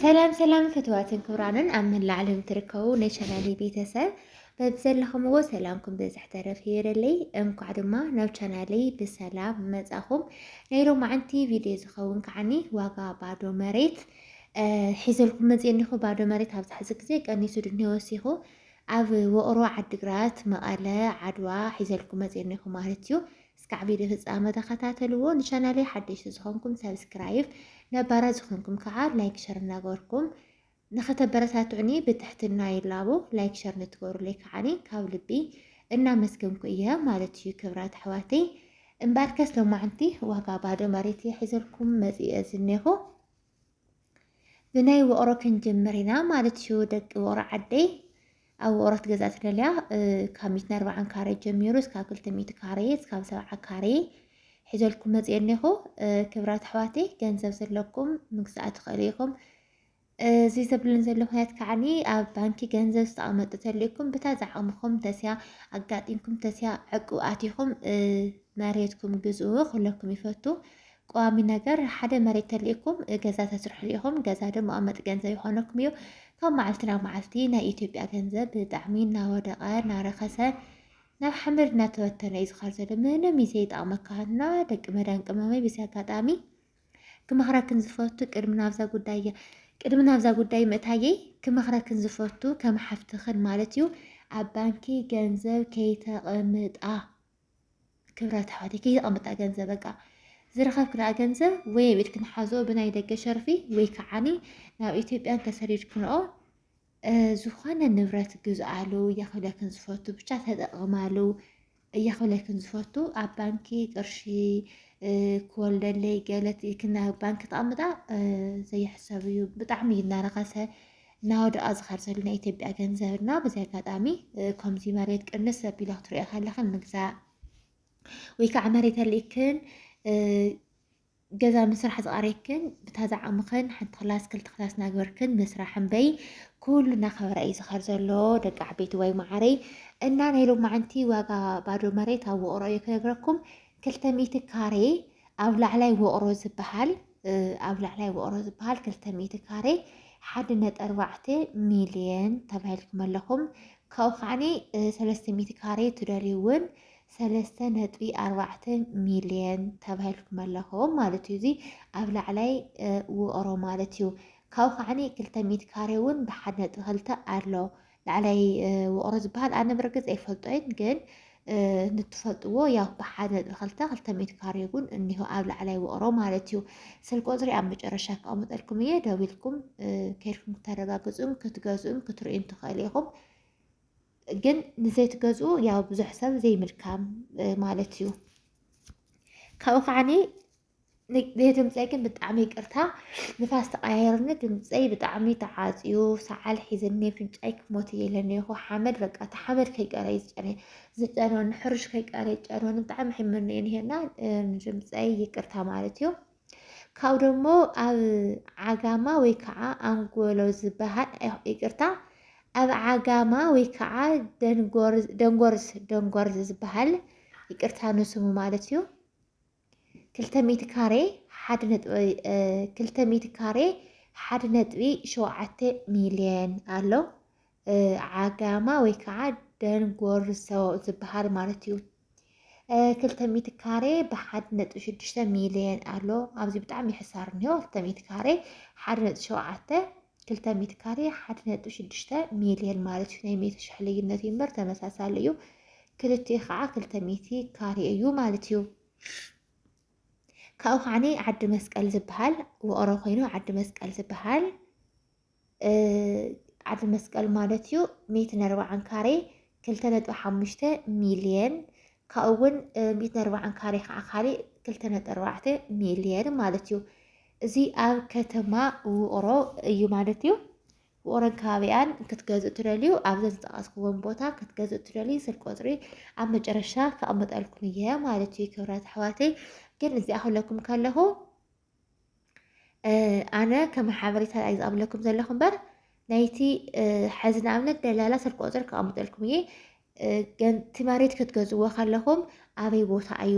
ሰላም ሰላም ፍትዋትን ክብራንን ኣብ መላእ ዓለም ትርከቡ ናይ ቻናሌ ቤተሰብ በብዘለኹምዎ ሰላምኩም ብዝሕ ተረፍ ይበለለይ። እንኳዕ ድማ ናብ ቻናለይ ብሰላም መጻኹም። ናይ ሎማዓንቲ ቪድዮ ዝኸውን ከዓኒ ዋጋ ባዶ መሬት ሒዘልኩም መፅእ እኒኹ። ባዶ መሬት ኣብዚ ሕዚ ግዜ ቀኒሱ ድንሄ ወሲኹ ኣብ ወቕሮ፣ ዓዲግራት፣ መቐለ፣ ዓድዋ ሒዘልኩም መፅእ እኒኹ ማለት እዩ። እስካዕ ቪድዮ ፍጻመ ተኸታተልዎ ንቻናለይ ሓደሽቲ ዝኾንኩም ሳብስክራይብ ነባራት ዝኾንኩም ከዓ ላይክ ሸር እናገበርኩም ንኸተበረታትዑኒ ብትሕትና ይላቦ ላይክ ሸር ንትገብሩለይ ከዓኒ ካብ ልቢ እናመስገንኩ እየ ማለት እዩ ክብራት ኣሕዋተይ እምበኣርከስ ሎማዕንቲ ዋጋ ባዶ መሬት እየ ሒዘልኩም መፂኡ እየ ዝኔኹ ብናይ ውቕሮ ክንጅምር ኢና ማለት እዩ ደቂ ውቕሮ ዓደይ ኣብ ውቕሮ ትገዛ ትደልያ ካብ ሚትን ኣርባዓን ካሬ ጀሚሩ እስካብ ክልተ ሚእቲ ካሬ እስካብ ሰብዓ ካሬ ሒዘልኩም መፅእ እኒኹ ክብራት ኣሕዋተይ ገንዘብ ዘለኩም ምግዛእ ትኽእሉ ኢኹም እዚ ዘብልን ዘሎ ምክንያት ከዓኒ ኣብ ባንኪ ገንዘብ ዝተቐመጡ ተልእኩም ብታ ዝዓቕምኹም ተስያ ኣጋጢምኩም ተስያ ዕቁብ ኣቲኹም መሬትኩም ግዝኡ ክብለኩም ይፈቱ ቀዋሚ ነገር ሓደ መሬት ተሊእኩም ገዛ ተስርሕሉ ኢኹም ገዛ ደሞ ኣመጥ ገንዘብ ይኾነኩም እዩ ካብ መዓልቲ ናብ መዓልቲ ናይ ኢትዮጵያ ገንዘብ ብጣዕሚ እናወደቐ እናረኸሰ ናብ ሓመድ እናተበተነ እዩ ዝኸር ዘሎ ምንም እዩ ዘይጠቕመካ እና ደቂ መዳን ቅመመይ ብዚ ኣጋጣሚ ክመኽረክን ዝፈቱ ቅድሚ ናብዛ ጉዳይ ቅድሚ ናብዛ ጉዳይ ምእታየይ ክመኽረክን ዝፈቱ ከም ሓፍትኽን ማለት እዩ ኣብ ባንኪ ገንዘብ ከይተቐምጣ ክብረት ኣሕዋተይ ከይተቐምጣ ገንዘብ በቃ ዝረኸብክንኣ ገንዘብ ወይ ኣብ ኢድክን ሓዝኦ ብናይ ደገ ሸርፊ ወይ ከዓኒ ናብ ኢትዮጵያን ተሰዲድክንኦ ዝኾነ ንብረት ግዝኣሉ እያኽብለክን ዝፈቱ ብቻ ተጠቕማሉ እያኽብለክን ዝፈቱ ኣብ ባንኪ ቅርሺ ክወልደለይ ገለት ኢልክና ባንኪ ተቐምጣ ዘይሕሰብ እዩ ብጣዕሚ እዩ እናረኸሰ እናወደቐ ዝኸድ ዘሎ ናይ ኢትዮጵያ ገንዘብ እና በዚ ኣጋጣሚ ከምዚ መሬት ቅንስ ኣቢላ ክትሪኦ ከለኽን ምግዛእ ወይ ከዓ መሬት ኣልእክን ገዛ ምስራሕ ዝቐሬክን ብታዛ ዓቕምኽን ሓንቲ ክላስ ክልተ ክላስ ናግበርክን ምስራሕ እምበይ ኩሉ እናኸበረ እዩ ዝኸር ዘሎ ደቂ ዓበይቲ ወይ መዓረይ እና ናይ ሎማዓንቲ ዋጋ ባዶ መሬት ኣብ ውቕሮ እዩ ክነግረኩም ክልተ ሚእቲ ካሬ ኣብ ላዕላይ ውቕሮ ዝበሃል ኣብ ላዕላይ ውቕሮ ዝበሃል ክልተ ሚእቲ ካሬ ሓደ ነጥቢ ኣርባዕተ ሚልየን ተባሂልኩም ኣለኹም ካብኡ ከዓኒ ሰለስተ ሚእቲ ካሬ ትደልዩ እውን ሰለስተ ነጥቢ ኣርባዕተ ሚልየን ተባሂልኩም ኣለኹም ማለት እዩ እዚ ኣብ ላዕላይ ውቕሮ ማለት እዩ ካብኡ ከዓኒ ክልተ ሚእቲ ካሬ እውን ብሓደ ነጥቢ ክልተ ኣሎ ላዕላይ ውቕሮ ዝበሃል ኣነ ብርግፅ ኣይፈልጦይን ግን ንትፈልጥዎ ያው ብሓደ ነጥቢ ክልተ ክልተ ሚእቲ ካሬ እውን እኒሆ ኣብ ላዕላይ ውቕሮ ማለት እዩ ስል ቁፅሪ ኣብ መጨረሻ ክቐምጠልኩም እየ ደዊልኩም ከይድኩም ክተረጋግፁን ክትገዝኡን ክትርእዩን ትኽእሉ ኢኹም ግን ንዘይትገዝኡ ያው ብዙሕ ሰብ ዘይምልካም ማለት እዩ ካብኡ ከዓኒ ነየ ድምፀይ ግን ብጣዕሚ ይቅርታ ንፋስ ተቀያየርኒ ድምፀይ ብጣዕሚ ተዓፅዩ ሰዓል ሒዝኒ ፍንጫይ ክሞት እየ ኢለኒ ይኹ ሓመድ በቃ እቲ ሓመድ ከይቀረ ዝጨነ ዝጨነኒ ሕርሽ ከይቀረ ጨነኒ ብጣዕሚ ሕምኒ እዩ ንሄና ድምፀይ ይቅርታ ማለት እዩ ካብኡ ደሞ ኣብ ዓጋማ ወይ ከዓ ኣንጎሎ ዝበሃል ይቅርታ ኣብ ዓጋማ ወይ ከዓ ደንጎርዝ ደንጎርዝ ዝበሃል ይቅርታ ንስሙ ማለት እዩ ክልተ ሚእቲ ካሬ ሓደ ነጥቢ ክልተ ሚእቲ ካሬ ሓደ ነጥቢ ሸውዓተ ሚልየን ኣሎ ዓጋማ ወይ ከዓ ደንጎርዞ ዝበሃል ማለት እዩ ክልተ ሚእቲ ካሬ ብሓደ ነጥቢ ሽዱሽተ ሚልየን ኣሎ ኣብዚ ብጣዕሚ ሕሳር እኒሆ ክልተ ሚእቲ ካሬ ሓደ ነጥቢ ሸውዓተ ክልተ ሚእቲ ካሬ ሓደ ነጥቢ ሽዱሽተ ሚልየን ማለት እዩ ናይ ሚእቲ ሽሕ ልዩነት እዩ እምበር ተመሳሳሊ እዩ ክልቲኡ ከዓ ክልተ ሚእቲ ካሬ እዩ ማለት እዩ ካብኡ ከዓኒ ዓዲ መስቀል ዝበሃል ውቕሮ ኮይኑ ዓዲ መስቀል ዝበሃል ዓዲ መስቀል ማለት እዩ ሚእትን ኣርባዓን ካሬ ክልተ ነጥቢ ሓሙሽተ ሚልየን ካብኡ እውን ሚእቲ ኣርባዓን ካሬ ከዓ ካሊእ ክልተ ነጥቢ ኣርባዕተ ሚልየን ማለት እዩ። እዚ ኣብ ከተማ ውቕሮ እዩ ማለት እዩ። ውቕሮን ከባቢኣን ክትገዝእ ትደልዩ ኣብዘን ዝጠቐስክዎም ቦታ ክትገዝእ ትደልዩ ስልክ ቁፅሪ ኣብ መጨረሻ ከቕምጠልኩም እየ ማለት እዩ ክብራት ኣሕዋተይ። ግን እዚኣ ክብለኩም ከለኹ ኣነ ከም ሓበሬታ ዩ ዝኣብለኩም ዘለኹ እምበር ናይቲ ሕዚ ንኣብነት ደላላ ስልኪ ቁፅሪ ከቐምጠልኩም እየ ገንቲ መሬት ክትገዝዎ ከለኹም ኣበይ ቦታ እዩ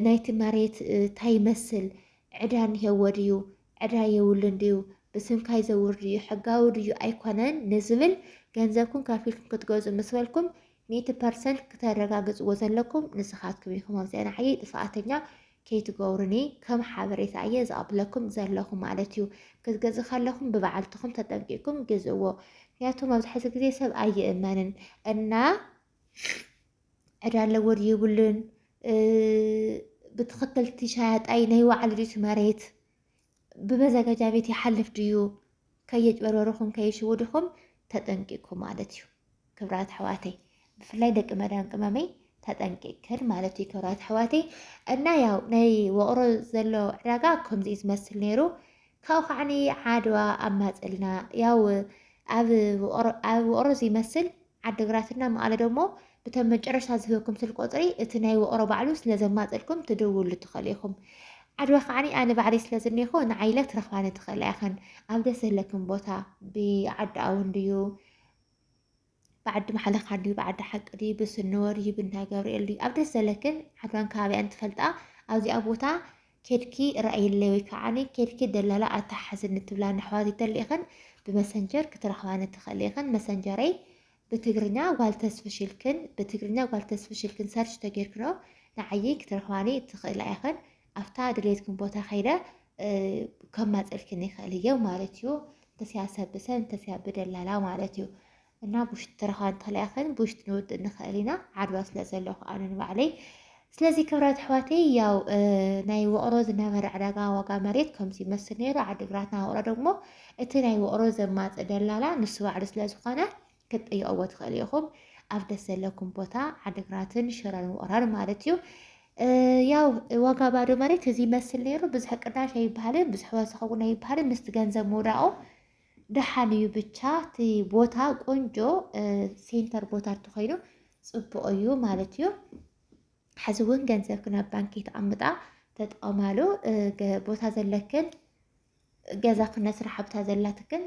ናይቲ መሬት እንታይ ይመስል ዕዳ እንሄዎ ድዩ ዕዳ የብሉን ድዩ ብስምካ ይዘውር ድዩ ሕጋዊ ድዩ ኣይኮነን ንዝብል ገንዘብኩም ከፊልኩም ክትገዙ ምስ በልኩም ሚእቲ ፐርሰንት ክተረጋግጽዎ ዘለኩም ንስካትኩም ኢኩም ኣብዚ ንዓይ ጥፋኣተኛ ከይትገብሩኒ ከም ሓበሬታ እየ ዝቀብለኩም ዘለኩ ማለት እዩ ክትገዝ ከለኩም ብበዓልትኩም ተጠንቂቅኩም ግዝእዎ ምክንያቱ መብዛሕትኡ ግዜ ሰብ ኣይእመንን እና ዕዳ ኣለዎ ድዩ የብሉን ብትክክልቲ ሻያጣይ ናይ ባዕሉ ድዩ መሬት ብመዘገጃ ቤት ይሓልፍ ድዩ ከየጭበርበርኹም ከይሽውድኹም ተጠንቂቅኩ ማለት እዩ ክብራት ኣሕዋተይ ብፍላይ ደቂ መዳም ቅመመይ ተጠንቂቅክን ማለት እዩ ክብራት ኣሕዋተይ እና ያው ናይ ወቕሮ ዘሎ ዕዳጋ ከምዚ እዩ ዝመስል ነይሩ ካብኡ ከዓኒ ዓድዋ ኣብ ማፅልና ያው ኣብ ወቕሮ ዝመስል ዓድግራት እና መቐለ ደሞ ብተን መጨረሽታ ዝህበኩም ስልክ ቁፅሪ እቲ ናይ ውቕሮ ባዕሉ ስለ ዘማፅእልኩም ትድውሉ ትኸእሉ ኢኹም። ዓድዋ ከዓኒ ኣነ ባዕለይ ስለ ዝኔኹ ንዓይ ኢለ ትረኽባኒ ትኸእላ ኢኸን። ኣብ ደስ ዘለክን ቦታ ብዓዲ ኣውን ድዩ ብዓዲ ማሕለኻ ድዩ ብዓዲ ሓቂ ድዩ ብስንወ ድዩ ብእንዳ ገብርኤል ድዩ ኣብ ደስ ዘለክን ዓድዋን ከባቢኣን ትፈልጣ ኣብዚኣ ቦታ ኬድኪ ረኣይለይ ወይ ከዓኒ ኬድኪ ደላላ ኣተሓሕዝኒ ትብላኒ ኣሕዋት እንተሊእኽን ብመሰንጀር ክትረኽባኒ ትኽእሊ ኢኽን መሰንጀረይ ብትግርኛ ጓል ተስፍሽ ኢልክን ብትግርኛ ጓል ተስፍሽ ኢልክን ሰርች ተጌርክንኦ ንዓየይ ክትረኽባኒ ትኽእላ ኢኽን ኣብታ ድሌትክን ቦታ ከይደ ከማፀልክን ይኽእል እየ ማለት እዩ እንተስያ ሰብ ብሰብ እንተስያ ብደላላ ማለት እዩ እና ብውሽጢ ተረኻን ተላኢኸን ብውሽጢ ንውድእ ንኽእል ኢና ዓድዋ ስለ ዘለኹ ኣነ ንባዕለይ ስለዚ ክብራት ኣሕዋተይ ያው ናይ ውቕሮ ዝነበረ ዕዳጋ ዋጋ መሬት ከምዚ ይመስል ነይሩ ዓዲግራትና ውቕሮ ደግሞ እቲ ናይ ውቕሮ ዘማፅእ ደላላ ንሱ ባዕሉ ስለ ዝኾነ ክትጠየቕዎ ትኽእሉ ኢኹም ኣብ ደስ ዘለኩም ቦታ ዓዲግራትን ሽረን ውቕራን ማለት እዩ ያው ዋጋ ባዶ መሬት እዚ ይመስል ነይሩ ብዙሕ ቅናሽ ኣይበሃልን ብዙሕ ወሰኸ እውን ኣይበሃልን ምስቲ ገንዘብ ምውዳቑ ደሓን እዩ ብቻ እቲ ቦታ ቆንጆ ሴንተር ቦታ እንተኾይኑ ፅቡቕ እዩ ማለት እዩ። ሕዚ እውን ገንዘብክን ኣብ ባንኪ ተቐምጣ ተጠቐማሉ ቦታ ዘለክን ገዛ ክነስራሕ ኣብታ ዘላትክን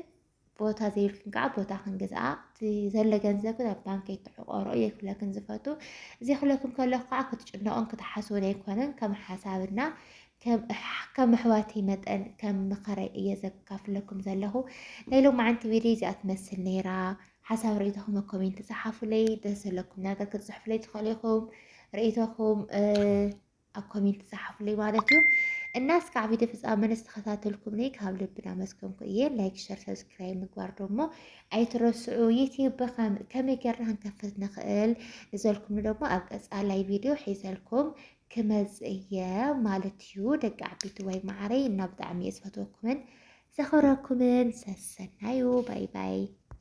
ቦታ ዘይብልክን ከዓ ቦታ ክንግዝኣ እቲ ዘሎ ገንዘብ ኣብ ባንኪ ትሕቆሮ እየ ክብለክን ዝፈቱ እዚ ክብለክን ከለኩ ከዓ ክትጭነቑን ክትሓስቡን ኣይኮነን ከም ሓሳብና ከም ኣሕዋተይ መጠን ከም ምኸረይ እየ ዘካፍለኩም ዘለኹ። ናይ ሎማዓንቲ ቪድዮ እዚኣ ትመስል ነይራ። ሓሳብ ርእይቶኹም ኣብ ኮሜንት ጸሓፉለይ። ደስ ዘለኩም ነገር ክትጽሕፉለይ ትኽእሉ ኢኹም። ርእይቶኹም ኣብ ኮሜንት ጸሓፉለይ ማለት እዩ። እና እስካዕ ቪድዮ ፍፃመ ንዝተኸታተልኩም ነይ ካብ ልቢ እናመስገንኩ እየ። ላይክ፣ ሸር፣ ሰብስክራይብ ምግባር ደሞ ኣይትረስዑ። ዩትዩብ ከመይ ጌርና ክንከፍት ንኽእል ንዘልኩም ደሞ ኣብ ቀፃላይ ቪድዮ ሒዘልኩም ክመጽእ እየ ማለት እዩ ደቂ ዓበይቲ ወይ ማዓረይ እና ብጣዕሚ እየ ዝፈትወኩምን ዘኸብረኩምን ሰሰናዩ ባይ ባይ